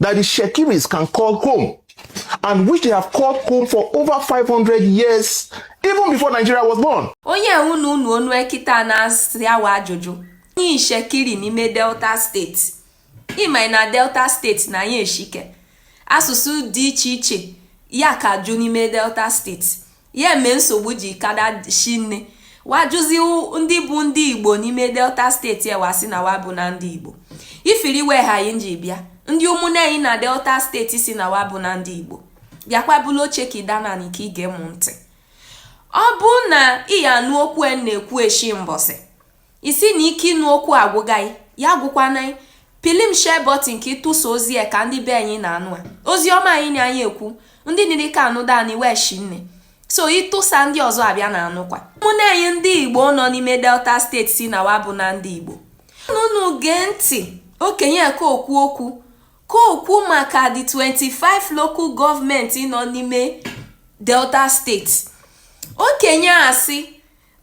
that the Ishekiris can call home and which they have called home for over 500 years even before Nigeria was born. onye unu nụ ọnụ ekita na-asa wa ajụjụ onye Ishekiri n'ime Delta steeti ị ma na Delta steeti na anyị eshike asụsụ dị iche iche ya ka jụ n'ime Delta steeti Ya eme nsogbu ji kada shinne wa jụzi ndị bụ ndị Igbo n'ime Delta steeti e wa sị na wa bụna ndị Igbo ifiri we ha anyị ji bịa ndị ụmụnne anyị na Delta steeti sị na wa bụna ndị Igbo bịakwa bulu oche ka ị dana anị ka i ge m ntị ọ bụ na ị ya anụ okwu m na-ekwu eshi mbọsị Ị sị na ike ịnụ okwu agwụga ị, ya agwụkwana ị. Pịlị m share button ka ị tụsa ozi a ka ndị be anyị na-anụ a. Ozi ọma anyị na anyị ekwu, ndị niri ka anụdanị we shinne. So ị tụsa ndị ọzọ abịa na anụkwa. Ụmụnne anyị ndị Igbo nọ n'ime Delta steeti sị na wa bụna ndị Igbo. Unu gee ntị okenye ka o kwu okwu ka o kwu maka the 25 local government nọ n'ime Delta steeti. Okenye a sị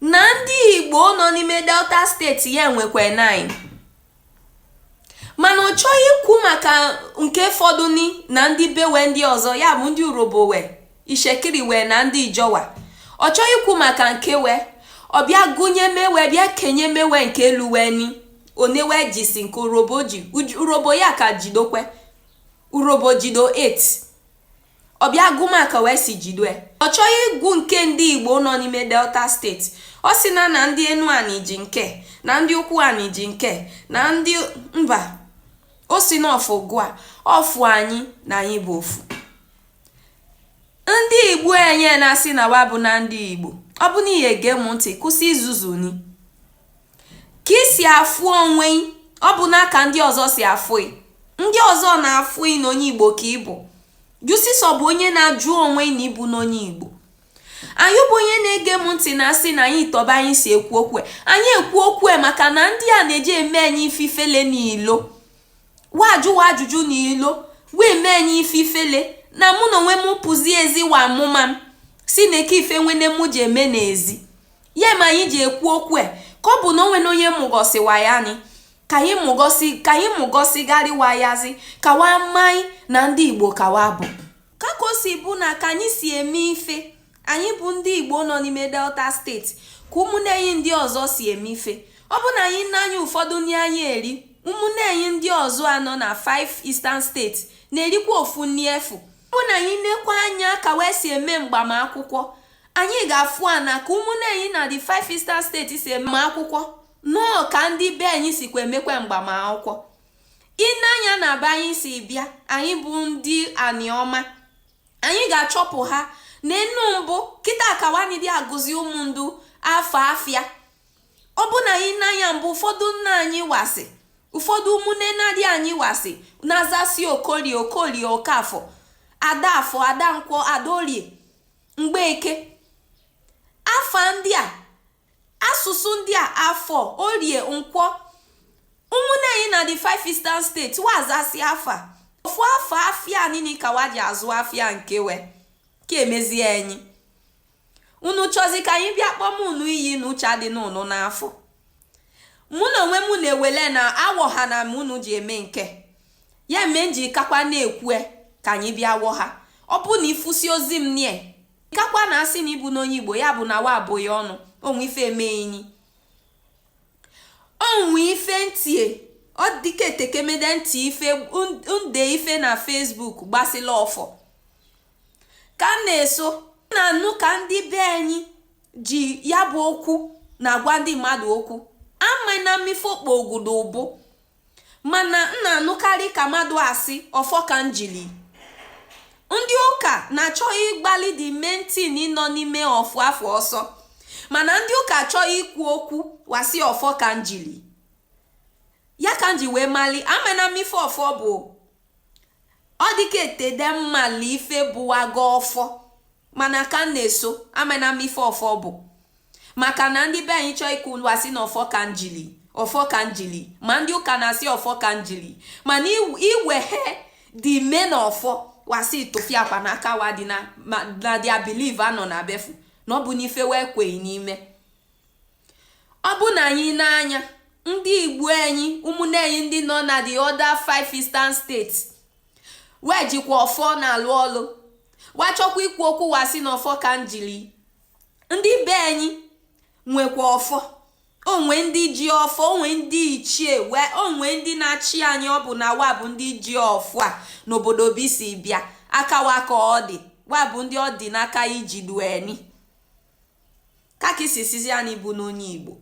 na ndị Igbo nọ n'ime Delta steeti ya nwekwa 9 mana ọ chọ ikwu maka nke fọdụni na ndị be we ndị ọzọ ya bụ ndị Urhobo we Ishekiri we na ndị Ijaw we ọ chọ ikwu maka nke we ọ bịa gụnyeme we bịa kenyeme we nke luu we ni one we jisi nke Urhobo ji Urhobo ya ka jidokwe Urhobo jido 8 Ọ bịa gụma ka we si jidue. Ọ chọ ịgụ nke ndị Igbo nọ n'ime Delta steeti. Ọ sị na na ndị Enuanị ji nke, na ndị Ụkwụanị ji nke, na ndị mba. O si n'ofu gụa, ọ fụ anyị na anyị bụ ofu. Ndị Igbo enye na-asị na wa bụna ndị Igbo. Ọ bụ na ị ya-ege m ntị, kwụsị izuzu ni. ka i si afụ onwe ị ọ bụna ka ndị ọzọ si afụ ị ndị ọzọ na-afụ ị na onye igbo ka ị bụ jụsịsọ bụ onye na-ajụ onwe ị na ị bụna onye igbo anyị bụ onye na-ege m ntị na-asị na anyị tọba anyị si ekwu okwu anyị ekwu okwu maka na ndị a na-eji eme anyị ife ifele n'ilo wa jụ wa ajụjụ n'ilo wee mee anyị ife ifele na mụ na onwe m pụzi ezi wa amụma m sị neke ife nwene mụ ji eme n'ezi ya ma anyị ji ekwu okwu e ka ọ bụ na o nwene onye mugosi wa ya ni ka anyị mugosigharị wa yazi ka wa malị na ndị igbo ka wa bụ ka ka o si bụ na ka anyị si eme ife anyị bụ ndị igbo nọ n'ime delta steeti ka ụmụnne anyị ndị ọzọ si eme ife ọ bụ na anyị nee anya ụfọdụ nri anyị eri ụmụnne anyị ndị ọzọ nọ na 5 eastern steeti na-erikwa ofu nri efu ọ bụ na anyị nekwa anya ka wa si eme mgbamakwụkwọ anyị ga-afụ a na ka ụmụnne anyị na the five eastern state si eme akwụkwọ nọọ ka ndị be anyị sikwa emekwa mgbamakwụkwọ ị nee anya na be anyị si bịa anyị bụ ndị aniọma anyị ga-achọpụha na enu mbụ kịta akawanyị dị agụzi ụmụ ndụ afa afịa ọ bụ na anyị nee anya mbụ ụfọdụ nna anyị wa sị ụfọdụ ụmụnne nnadị anyị wa sị na-azasi okorie okorie okafọ ada afọ ada nkwọ ada orie mgbeke afa ndị a asụsụ ndị a afọ orie nkwọ ụmụnne anyị na the five eastern state wa azasị afa ofu afa afịa nini ka wa ji azụ afịa nke we ka e mezie anyị unu chọzi ka anyị bịa kpọm unu iyi na uche adị unu n'afọ mụ na onwe m na-ewele na awọhana m unu ji eme nke ya mee m ji kakwa na-ekwue ka anyị bịa wọha ọ bụ na ị fụsị ozi m nie kakwa na-asị na ị bụna onye igbo ya bụ na wa abụ gị ọnụ o nwe ife eme enyi o nwe ife n tie ọ dịka etekemede n tie ife n de ife na facebook gbasịla ọfọ ka m na-eso na-anụ ka ndị be anyị ji ya bụ okwu na-agwa ndị mmadụ okwu amana m ife okpo ogudo ụbụ mana m na-anụkarị ka mmadụ asị ọfọ ka njili ndị ụka na-achọ ịgbalị the main thing nọ n'ime ọfọ afụ ọsọ mana ndị ụka chọọ ikwu okwu wa sị ọfọ ka njili ya ka m ji wee mali amana m ife ọfọ bụ ọ dịka etede m malụ ife bụwago ọfọ mana ka m na-eso amana m ife ọfọ bụ maka na ndị be anyị chọọ ikwu wa sị na ọfọ ka njili ọfọ ka njili ma ndị ụka na-asị ọfọ ka njili mana i wehe the main ọfọ wa sị tụfịakwa na aka wa dị na dia believe anọ na befu na ọ bụna ife we kweyi n'ime ọ bụ na anyị nee anya ndị igbo anyị ụmụnne anyị ndị nọ na the other five eastern states we jikwa ọfọ na-alụ ọlụ wa chọkwa ikwu okwu wa sị na ọfọ ka m jiri ndị be anyị nwekwa ọfọ o nwe ndị ji ọfọ o nwe ndị ichie o nwe ndị na-achị anyị ọ bụ na wa bụ ndị ji ọfọ a n'obodo be i si bịa aka wa ka ọ dị wa bụ ndị ọ dị n'aka iji du enyi ka ka i si sizi anyị bụna onye igbo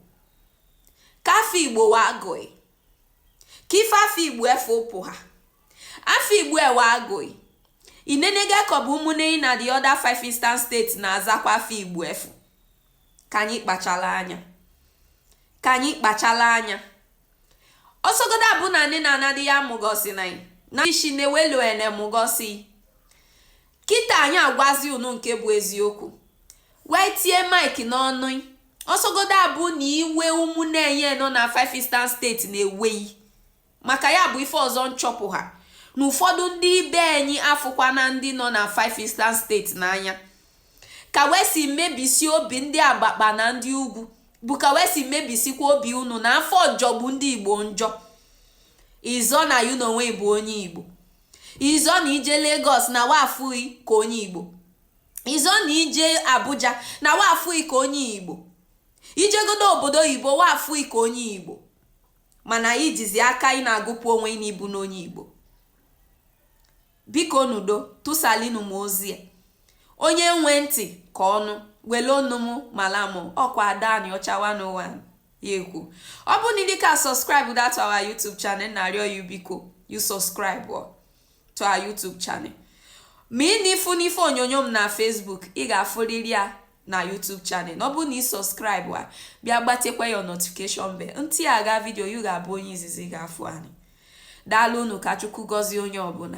ka afa igbo wa agụ ị ka ife afa igbo e fepụha afa igbo we agụ ị inenega ka ọ bụ ụmụnne na the other five eastern state na-azakwa afa igbo efu ka anyị kpachala anya ka anyị kpachala anya ọ sọgodu abụ na nne na nnadị ya mụgosi na na ishi na-ewelu ene mụgosi kịta anyị agwazi unu nke bụ eziokwu wee tie mike n'ọnụ ọsọgodo abụ na iwe ụmụnne enyi nọ na five eastern state na-ewe ị maka ya bụ ife ọzọ m chọpụha na ụfọdụ ndị ibe enyi afụkwana ndị nọ na five eastern state n'anya ka wee si mebisi obi ndị abakpa na ndị ugwu bụ ka wee si mebisikwa obi unu na afọ ọjọgbu ndị igbo njọ izọ na yu n'onwe ị bụ onye igbo izo na ije Lagos na wa fụ ị ka onye Igbo izo na ije Abuja na wa fụ ị ka onye Igbo ijegodu obodo oyibo wa fụ ị ka onye Igbo mana ijizi aka ị na-agụpụ onwe ị n'ịbụ onye Igbo biko n'udo tụsalinu m ozi a onye nwe ntị ka ọ nụ wele onu m mala m ọkwa Ada Aniocha 101 ya ekwu ọ bụ na ị dịka subscribe to our YouTube channel na-arịọ yu biko yu subscribe to our YouTube channel maka na ị fụ n'ife onyonyo m na Facebook ị ga-afụrịrị ya na YouTube channel ọ bụ na ị subscribe a bịa gbatekwa your notification bell m tịa ga video yu ga-abụ onye izizi ga-afụ anyị daalụ unu ka Chukwu gọzie onye ọbụla